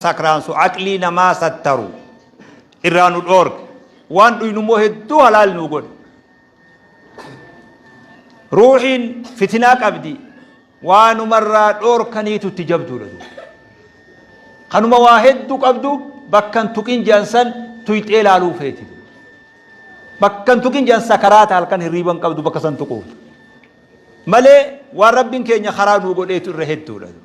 sakraansu aqlii namaa sattaru irraa nu dhoorge waan dhuynu immoo hedduu halaal nu godhe ruuxiin fitinaa qabdi waanumarraa dhoorkaniitu itti jabduudha duuba kanuma waa hedduu qabdu bakkan tuqin jedhan san tuyxee laaluu feeti bakkan tuqin jedhan sakaraata halkan hirriiban qabdu bakka san tuquuf malee waan rabbiin keenya karaa nuu godheetu irra hedduudha duuba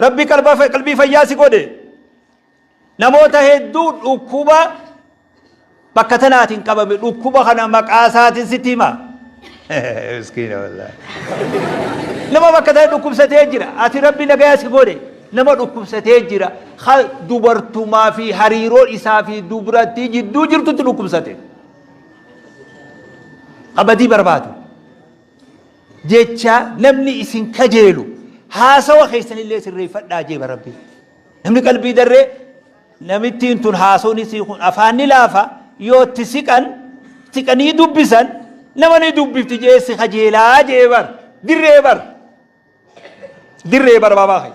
Rabbi qalba qalbii fayyaa si godhe namoota hedduu dhukkuba bakka tanaatiin qabame dhukkuba kana maqaa isaatiin sitti hima. Miskiina wallaahi. Nama bakka ta'e dhukkubsatee jira. Ati rabbi nagaya si godhe nama dhukkubsatee jira. Ha dubartumaa fi hariiroo isaa fi dubrattii jidduu jirtutti dhukkubsate. Abadii barbaadu. jecha namni isin kajeelu haasawa keessanillee sirreeffadhaa jeeba rabbi namni qalbii darree namittiin tun haasawni isii kun afaan ni laafa yoo itti siqan siqanii dubbisan nama ni dubbifti jee si kajeelaa jee bar dirree bar dirree bar baabaa kee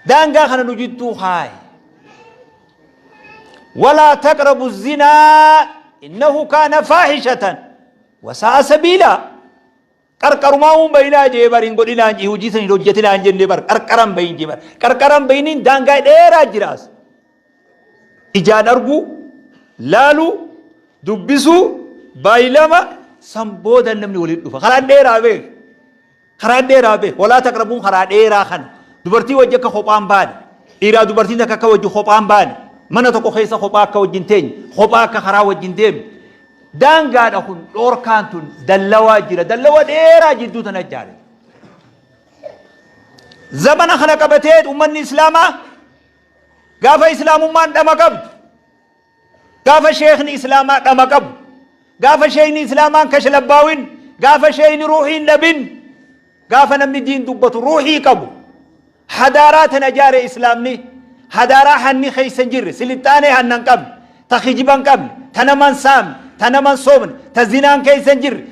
daangaa kana nu jidduu kaaye walaa taqrabu zinaa innahu kaana faahishatan Wasa'a sabiila qarqarumaa uun bayinaa jee bar hin godhinaan jee hojii san hin hojjetinaan jenne bar qarqaran bayin jee bar qarqaran bayiniin daangaa dheeraa jiraas ijaan arguu laaluu dubbisuu baayilama san booda namni waliin dhufa karaan dheeraa beek Karaa dheeraa bee. Walaa taqrabuun karaa dheeraa kana. Dubartii wajji akka kophaan baane. Dhiiraa dubartiin takka akka wajji kophaan baane. Mana tokko keessa kophaa akka wajjin teenye. Kophaa akka karaa wajjin deemne. Daangaadha kun dhoorkaan tun dallawaa jira. Dallawa dheeraa jidduu tana jaare. Zamana kana qabatee ummanni Islaamaa gaafa Islaamummaan dhama qabdu Gaafa sheekni islaamaa dhama qabu, gaafa sheekni islaamaan kashlabbaawin, gaafa sheekni ruuhiin dhabin, gaafa namni diin dubbatu ruuhii qabu, hadaaraa tana jaare islaamni, hadaaraa hanni keessa hin jirre, silixxaanee hanna hin qabne, ta kijiba hin qabne, ta nama hin saamne, ta nama hin sobne, ta zinaan keessa hin jirre,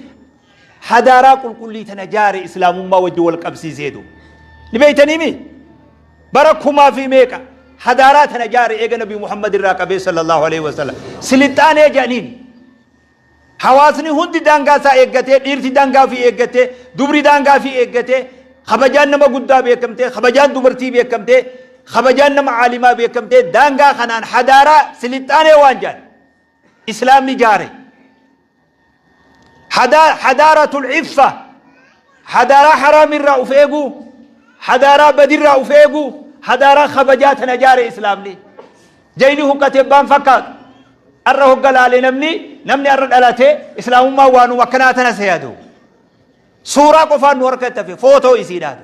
hadaaraa qulqullii tana jaare islaamummaa wajji wal qabsiisee duuba ni beeytaniimi bara kumaa fi meeqa hadaaraa tana jaare eega nabi muhammad irraa qabee sallallahu alaihi wasallam silixaanee jedhaniin hawaasni hundi daangaa isaa eeggatee dhiirti daangaa fi eeggatee dubri daangaa fi eeggatee kabajaan nama guddaa beekamtee kabajaan dubartii beekamtee kabajaan nama caalimaa beekamtee daangaa kanaan hadaaraa silixaanee waan jedhan islaamni jaare Hadaa- hadaaratul iffa hadaaraa haraam irraa uf eeguu hadaaraa badirraa uf eeguu hadaaraa kabajaa tana jaare islaamni jayni huqqate baan fakkaatu arra hogga laale namni namni arra dhalate islaamummaa waanuma akkanaa tana seeyadu suuraa qofaan nu harka ittafe footoo isiidhaatu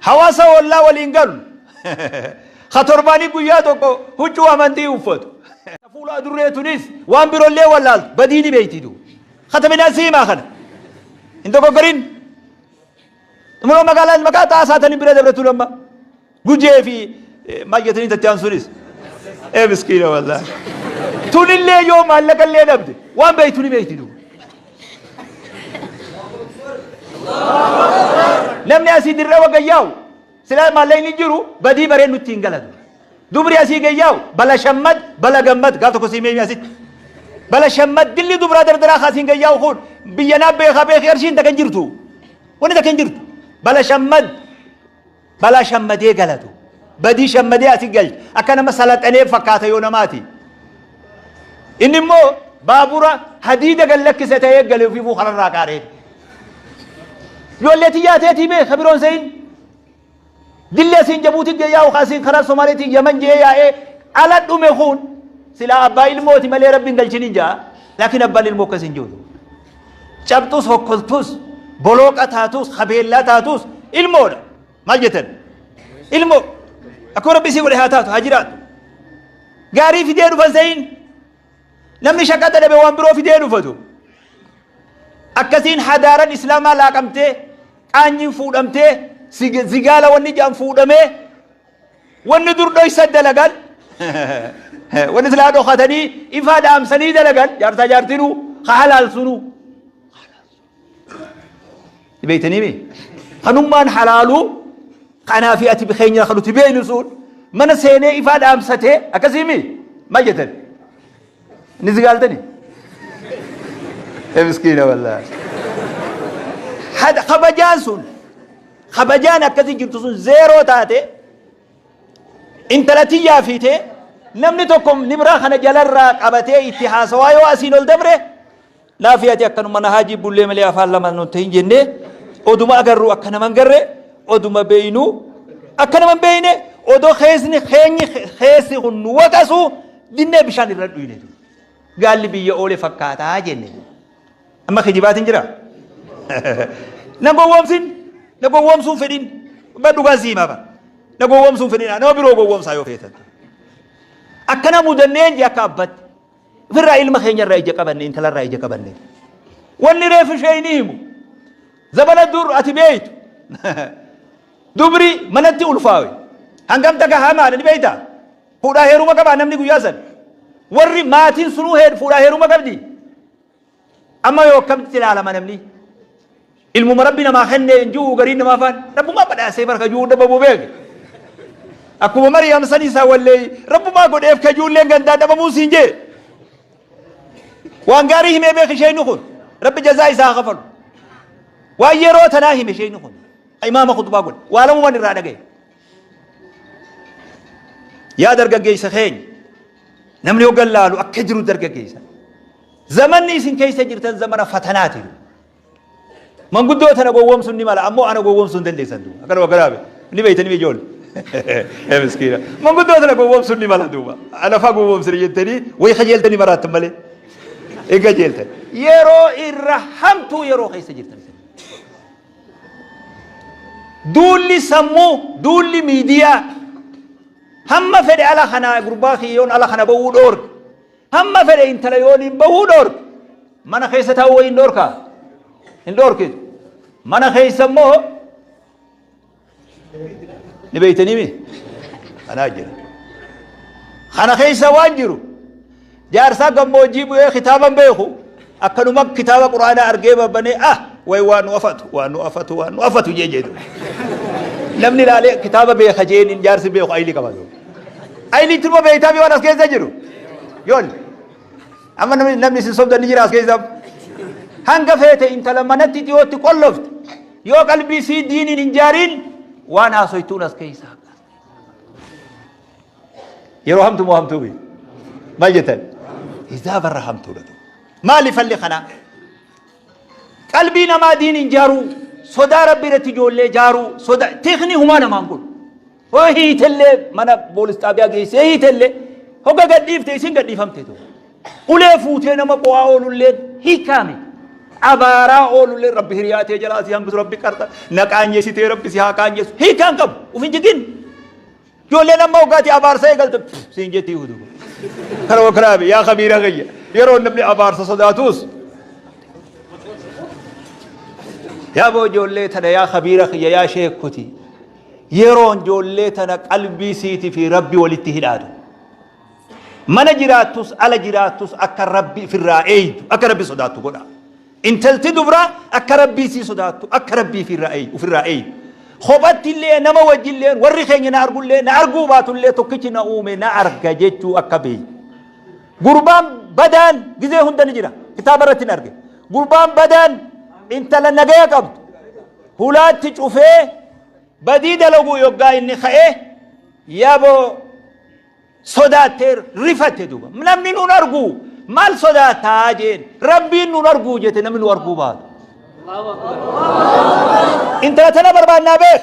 Hawaasa ollaa waliin galu. Ka torbaanii guyyaa tokko huccuu amantii uffatu. Ta fuula adurree tunis waan birollee wallaaltu badii ni beeyti du. Kata midhaan siimaa kana. Hin dogoggorin. Xumura magaalaan maqaa xaasaa tani bira dabratu lamma. Gujee fi maal jetanii tatti aansuunis. Ee miskiina wallaahi. Tunillee yoo maallaqallee dhabde waan beeytu ni beeyti du. Namni asii dirree wagga yaa'u silaa maallaqni jiru badii baree nutti hin galatu. Dubri asii gayyaa'u bala shammad bala gammad gaaf tokko sii meemi asitti. Bala shammad dilli dubraa dardaraa kaasiin gayyaa'u kun biyya naa beekaa beekee arshiin takka hin jirtu. Wanni takka hin jirtu. Bala shammad Balaa shammadee galatu. Badii shammadee asi galcha. Akka nama salaxanee fakkaata yoo namaati. Inni immoo baabura hadiida gad lakkise ta'ee gale ofiifuu kanarraa qaaree. Ijoollee tiyyaa teetii mee ka biroon se'in. Dilli asiin jabuuti gee yaa'u kaasiin karaa Somaaleetiin yaman jee yaa'ee ala dhume kun silaa abbaa ilmooti malee rabbiin galchiniin ja'a. Laakiin abbaan ilmoo akkas hin jiru. Cabxuus hokkoltuus bolooqa taatuus habeellaa taatuus ilmoodha. Maal jettan? Ilmoo. Akkuma rabbi isii godhe haa taatu haa jiraatu. Gaarii fidee dhufan se'iin. Namni shaqaxa dhabe waan biroo fidee dhufatu. Akkasiin hadaaran islaamaa laaqamtee qaanyiin fuudhamtee zigaala wanni jaan fuudhamee Wanni dur dhoysa dalagan wanni silaa dhokatanii ifaa dhaamsanii dalagan jaarsaa jaartinuu ka halaalsunuu. Beeytanii mi? Kanummaan halaaluu kanaa fi ati keenya kan nuti beeynu sun mana seenee ifaa dhaamsatee akkasii mi? Maal jettan? Ni zigaaltani? Miskiina wallaahi. Hada kabajaan sun kabajaan akkasii jirtu sun zeeroo taate intala tiyyaa fiite namni tokko nibraa kana jalarraa qabatee itti haasawaa yoo asiin ol dabre Naafii ati akkanuma na haajii bullee malee afaan lama nun tahin jennee oduma agarru akka nama hin garre oduma beeynu akka nama hin beeyne odoo keessni keenyi keessi kun nu waqasu dinnee bishaan irra dhuyne gaalli biyya oole fakkaataa jenne amma kijibaatiin jira na gowwoomsin na gowwoomsuun fedhin ba dhugaa sii himaa bara na gowwoomsuun fedhin nama biroo gowwoomsaa yoo feetan akkana mudanneen jee akka abbatti Firraa ilma keenya irraa ija qabanne intala irraa ija qabanne. Wanni reefu ishee ni himu. Zabana dur ati beeytu. Dubri manatti ulfaawe. Hangam takka hamaadha ni beeyta. Fuudhaa heeruma qabaa namni guyyaa san. Warri maatiin sunuu fuudhaa heeruma qabdi. Amma yoo akkamitti ilaalama namni? Ilmuma rabbi namaa kennee hin jiru gariin namaa faan rabbumaa badhaasee bara kajuu hunda babuu beeke. Akkuma Mariyaam san isaa wallee rabbumaa godheef kajuulleen gandaa dhabamuu siin jee. Waan gaarii himee beeki isheen kun rabbi jazaa isaa haa kafalu. Waan yeroo tanaa hime isheen kun imaama kutubaa godhe waa lamumaan irraa dhagaye. Yaa dargaggeessa keenya namni hoggan laalu akka jiru dargaggeessa. Zamanni isin keessa jirtan zamana fatanaati. Manguddoo tana gowwoomsuun ni mala ammoo ana gowwoomsuu hin dandeessan duuba. Akka nama garaabe ni beeytanii ijoollee. Ee miskiina. Manguddoo tana gowwoomsuun ni mala duuba. Ana faa gowwoomsina jettanii way kajeeltanii maraattan malee. Egaa jeeltan. Yeroo irra hamtuu yeroo keessa jirtan. Duulli sammuu, duulli miidiyaa hamma fedhe ala kana gurbaa kiyyoon ala kana bahuu dhoorge. Hamma fedhe intala yooniin bahuu dhoorge. Mana keessa taa'uu wayii hin dhoorkaa? Hin dhoorkitu. Mana keessa immoo ni beeytanii mi kanaa jira kana keessa waan jiru jaarsaa gammoojjii bu'ee kitaaban beeku akkanuma kitaaba quraanaa argee babbanee ah way waan nu afatu waan nu afatu waan nu afatu jee jedhu namni ilaalee kitaaba beeka jeeniin jaarsi beeku ayilii qaba yoo ayilii turma beeytaa waan as keessa jiru yoon amma namni namni isin sobdan ni jira as keessa hanga feete intala manatti dhiyootti qollofte Yoo qalbii sii diiniin hin jaariin waan haasoytuun as keessa haqaas. Yeroo hamtu moo hamtuu biyya? Maal jettan? Isaa barra hamtuudha ta'u. Maali falli kanaa? Qalbii namaa diiniin jaaruu, sodaa rabbi irratti ijoollee jaaruu, soda teekni humaa namaan kun. Hoo hiitellee mana boolis xaabiyaa geessee hiitellee hoga gadhiifte isin gadhiifamte tu. Ulee fuutee nama qo'aa oolullee hiikaa miti. Abaaraa oolullee rabbi hiriyaa tee jalaa si hambisu rabbi qarxa na qaanyeessitee rabbi si haa qaanyeessu hiikaa hin qabu uf hin jigin. Ijoollee nama hogaati abaarsa eegalte pff, siin jettii hudu. Kana wakraabe yaa kabiira kiyya yeroo namni abaarsa sodaatus yaa boo ijoollee tana yaa kabiira kiyya yaa sheekkoti. Yeroon ijoollee tana qalbii siiti fi Rabbi walitti hidhaatu. Mana jiraattus ala jiraattus akka Rabbi ifirraa eeydu, akka Rabbi sodaattu godha. Intalti dubraa akka Rabbii sii sodaattu, akka Rabbi ifirraa eeydu, ofirraa eeydu. Kophatti illee nama wajji illee warri keenya na argu illee na arguu baatu illee tokkichi na uume na arga jechuu akka beeydu. Gurbaan badaan gizee hunda ni jira. Kitaaba irratti hin arge. Gurbaan badaan intala nagaya qabdu. hulaatti cufee badii dalaguu yoggaa inni ka'e yaboo sodaattee rifatte duuba namni nun arguu maal sodaattaa jeen rabbiin nun arguu jete namni nu arguu baatu intala tana barbaannaa beek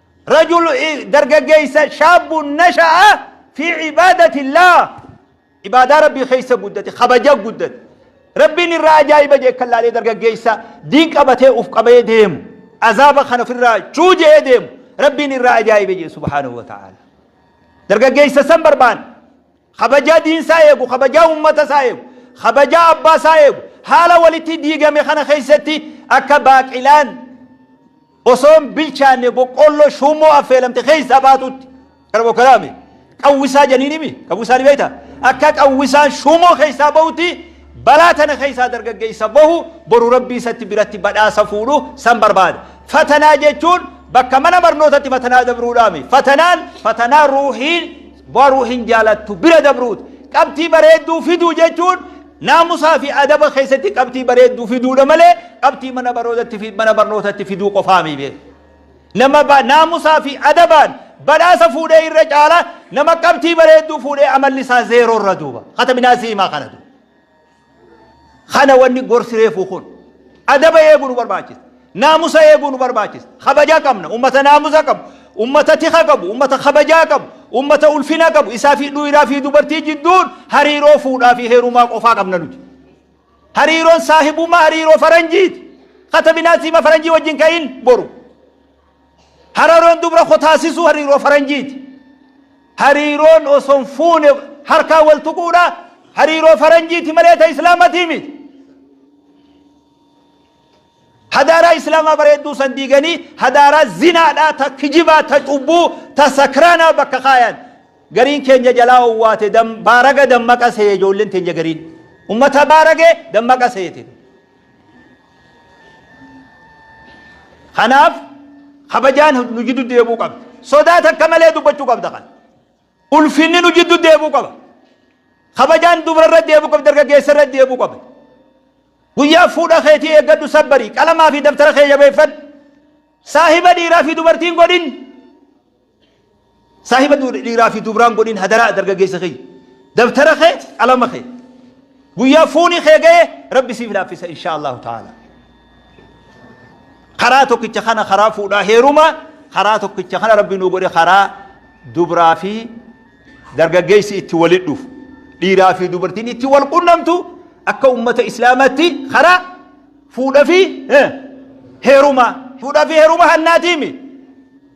Rajul dargaggeessa shaabbuun nasha'a fi cibaadatillah ibaadaa rabbii keessa guddate kabaja guddate rabbiin irraa ajaa'iba jee kan laalee dargaggeessa diin qabatee uf qabee deemu azaaba kan ofirraa chuu jee deemu rabbiin irraa ajaa'iba jee subhaanahu wa ta'ala dargaggeessa san barbaan kabajaa diin isaa eegu kabajaa ummata isaa eegu kabajaa abbaa isaa eegu haala walitti diigame kana keessatti akka baaqilaan osoo hin bilchaanne boqqoolloo shuummoo affeelamte keessaa baatuutti kana bokkaraame qawwisaa janiinimi qawwisaa ni beekta akka qawwisaan shuummoo keessaa bahutti balaa tana keessaa dargaggeessa bahu boru rabbii isatti biratti badhaasa fuudhu san barbaada fatanaa jechuun bakka mana barnootatti fatanaa dabruudhaame fatanaan fatanaa ruuhiin Boruu hin jaalattu bira dabruut. Qabxii bareedduu fiduu jechuun naamusaa fi adaba keessatti qabxii bareedduu fiduudha malee qabxii mana baroodatti fi mana barnootatti fiduu qofaa miibee. Nama ba- naamusaa fi adabaan badhaasa fuudhee irra caala nama qabxii bareedduu fuudhee amalli isaa zeeroo irra duuba. Kataminaa siimaa kana duuba. Kana wanni gorsi reefuu kun adaba eeguu nu barbaachisa. Naamusa eeguu nu barbaachisa. Kabaja qabna. Ummata naamusa qabu. Ummata tika qabu. Ummata kabajaa qabu. Ummata ulfina qabu. Isaa fi dhiiraa fi dubartii jidduun hariiroo fuudhaa fi heerumaa qofaa qabna nuti. Hariiroon saahibummaa hariiroo faranjiiti. Katabinaa siima faranjii wajjin ka'in boru. Hararoon dubra koo taasisuu hariiroo faranjiiti. Hariiroon osoo hin fuune harkaa wal tuquudha. Hariiroo faranjiiti malee ta islaamatii miti. Hadaaraa islaamaa bareedduu san diiganii hadaaraa zinaadhaa ta kijibaa ta cubbuu ta sakraanaa bakka kaayan. Gariin keenya jalaa owwaate dam, baaraga dammaqa seeye ijoolleen teenya gariin. Ummata baarage dammaqa seete. Kanaaf kabajaan nu jiddu deebuu qabda. Sodaa takka malee dubbachuu qabda kan. Ulfinni nu jiddu deebuu qaba. Kabajaan dubrarra deebuu qabda dargaggeessarra deebuu qabda. Guyyaa fuudha keetii eeggadhu sabbarii qalamaa fi dabtara kee jabeeffadhu. Saahiba dhiiraa fi dubartiin godhin. Saahiba dhiiraa fi dubraan godhin hadaraa dargaggeessa kiyya. Dabtara kee qalama kee. Guyyaa fuuni kee ga'e rabbi siif laaffisa inshaa Allahu ta'ala. Karaa tokkicha kana karaa fuudhaa heeruma karaa tokkicha kana rabbi nu godhe karaa dubraa fi dargaggeessi itti walitti dhufu. Dhiiraa fi dubartiin itti wal qunnamtu akka ummata islaamaatti karaa fuudha fi heeruma. Fuudha fi heeruma hannaatiimi.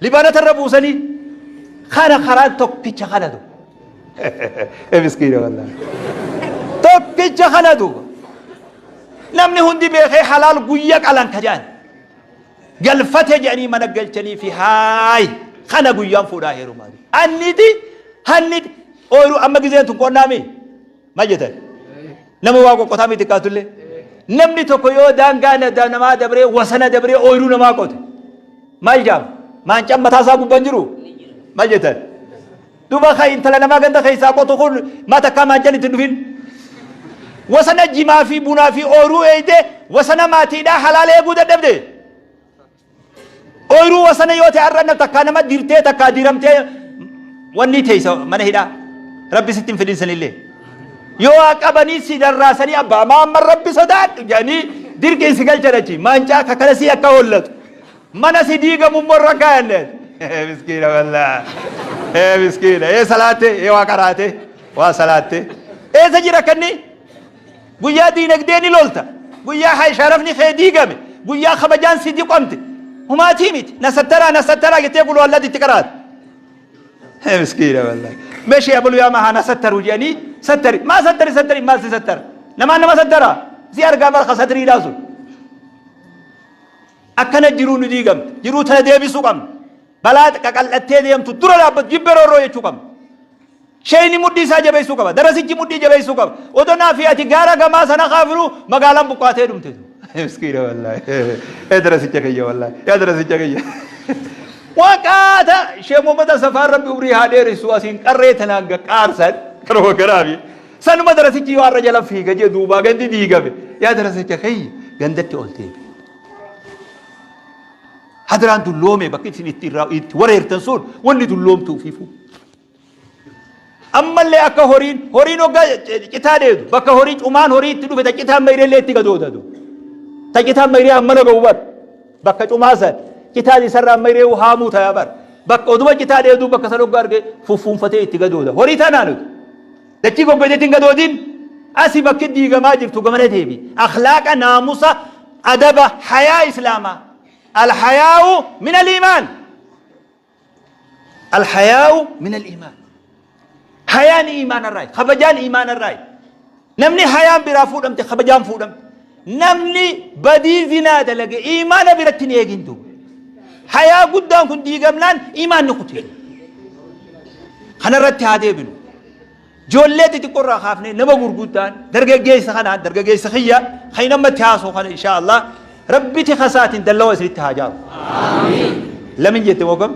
Libaanota irra buusanii kana karaan tokkicha kana duuba. Miskiina wallaan. Tokkicha kana duuba. Namni hundi beekee halaal guyya qalan ka jedhan. Galfate jedhanii mana galchanii fi haayi kana guyyaan fuudhaa heerumaa. Anniti hanniti ooyiruu amma gizeen tun qonnaa mii? Maal jettan? Nama waa qoqqotaa miti kaatullee. Namni tokko yoo daangaa na- namaa dabree wasana dabree ooyiruu namaa qote. Maal jaama? Maancaan mataa isaa gubbaan jiru? Maal jettan? Duuba kan intala namaa ganda keessaa qotu kun maa takkaa maancaan itti hin dhufin? Wasana jimaa fi bunaa fi ooyiruu eeyde wasana maatiidhaa halaala eeguu dadhabde. Ooyiruu wasana yoo ta'e har'a takkaa nama dirtee takkaa diiramtee wanni teessa mana hidhaa rabbi sitti hin fidin sanillee. Yoo waa qabanii si darraasanii abbaa maamman rabbi sodaadhu jedhanii dirqiin si galchan achi maancaa kakala si akka hollatu mana si diigamu immoo irra kaa'anne. Miskiina wallaa. Ee miskiina ee salaatte ee waa qaraatte waa salaatte eessa jira kanni. Guyyaa diinagdee ni lolta. Guyyaa hay sharafni kee diigame, guyyaa kabajaan si diqomte. Humaatii miti. Na sattaraa, na sattaraa jettee qul huwallaatti itti qaraata. Hee miskiina wallahi. Mee shee abaluu yaa mahaa na sattaru jedhanii sattari. Maa sattari sattari maal si sattara? Namaan nama sattara. Si argaa barka satriidhaa sun. Akkana jiruu nu diigamte. Jiruu tana deebisuu qabna. Balaa qaqal'attee deemtu dura dhaabbatu jibbe roorroo jechuu qabna. Sheeyni mudhii isaa jabeessuu qaba. Darasichi mudhii jabeessuu qaba. Odoo naa fi ati gaara gamaa sana kaafnu magaalaan buqqaatee dhumte tu. Miskiina wallaahi. Yaa darasicha kiyya wallaahi. Yaa darasicha kiyya. Waqaata Sheekh Muhammad Asafaan Rabbi umrii haa dheeressu asiin qarree tanaan gaqqaarsan karoo garaafi. Sanuma darasichi yoo har'a jala fiiga jee duubaa gandi diigame. Yaa darasicha kiyya gandatti ol deebi. Hadraan dulloome bakki isin itti irraa itti wareertan sun wanni dulloomtuuf hifuu. ammallee akka horiin horiin hogga citaa deedu bakka horii cumaan horii itti dhufe ta citaan mayreellee itti gadoodatu ta citaan mayree ammana ga'u bar bakka cumaa san citaan isarraa mayree haamuu ta'a bar bakka oduma citaa deedu bakka san hogga arge fuffuunfatee itti gadooda horii tanaan utu dachii goggoiteetiin gadoodin asi bakki diigamaa jirtu gamana deebi akhlaaqa naamusa adaba hayaa islaamaa alhayaa'u min aliimaan Alhayaa'u minal iimaan. Hayaan iimaanarraayi. Kabajaan iimaanarraayi. Namni hayaan biraa fuudhamte kabajaan fuudhamte. Namni badii zinaa dalage iimaana biratti hin eegin duuba. Hayaa guddaan kun diigamnaan iimaanni kutee. Kanarratti haa deebinu. Ijoollee xixiqqoo irraa kaafnee nama gurguddaan dargaggeessa kanaan dargaggeessa kiyya kan hin ammatti haasoo kana inshaa Allah rabbiti kasaatiin dallawa isinitti haa jaaru. Lamin jette moogam?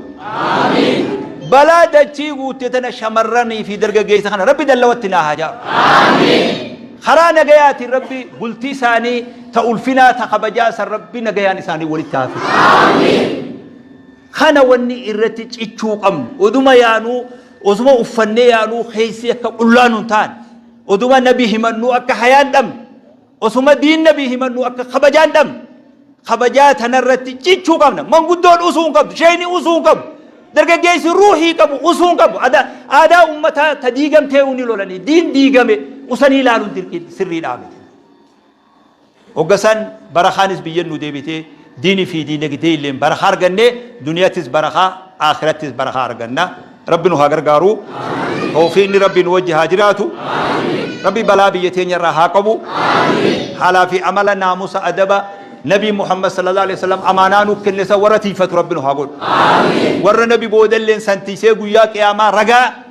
Balaa dachii guutte tana shamarranii fi dargaggeessa kana rabbi dallawatti naa haa jaaru. Karaa nagayaatiin rabbi bultii isaanii ta ulfinaa ta kabajaa san rabbi nagayaan isaanii walitti haa fidu. Kana wanni irratti cichuu qabnu oduma yaanuu Osuma uffannee yaanuu keessi akka qullaa nun taane, oduma nabi himannuu akka hayaan dhabne, osuma diin nabi himannuu akka kabajaan dhabne, kabajaa tanarratti cichuu qabna. Manguddoon usuu hin qabdu, sheeyni usuu hin qabu, dargaggeessi ruuhii qabu usuu hin qabu. Ada- Aadaa ummataa ta diigamtee uni lolanii, diin diigame usanii ilaaluun dirqii sirrii dhaabete. Hogga san barakaanis biyyan nu deebitee diini fi diinagdeeylleen barakaa argannee duniyatis barakaa aakhirattis barakaa arganna. Rabbi nu haa gargaaru. Tawfiiqni Rabbii nu wajji haa jiraatu. Rabbi balaa biyya teenya irraa haa qabu. Haalaa fi amala naamusa adaba Nabiin Muhammad sallallahu alaihi wasallam amaanaa nuuf kenne san warra tiiyfatu Rabbi nu haa godhu. Warra Nabi boodalleen san tiiysee guyyaa qiyaamaa ragaa